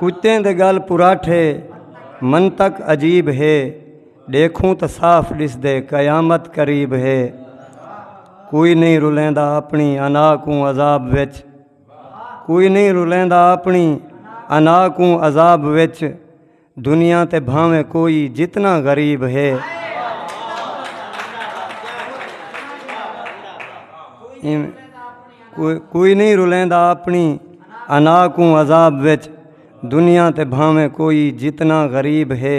کتیں دے گل پراٹھے منطق عجیب ہے ڈیکھوں تو صاف ڈس دے قیامت قریب ہے کوئی نہیں رلیندا اپنی انا کوں عذاب وچ کوئی نہیں رلیندا اپنی انا کوں عذاب وچ دنیا تے بھاویں کوئی جتنا غریب ہے کوئی نہیں رلیندا اپنی انا کو عذاب وچ دنیا تے بھاویں کوئی جتنا غریب ہے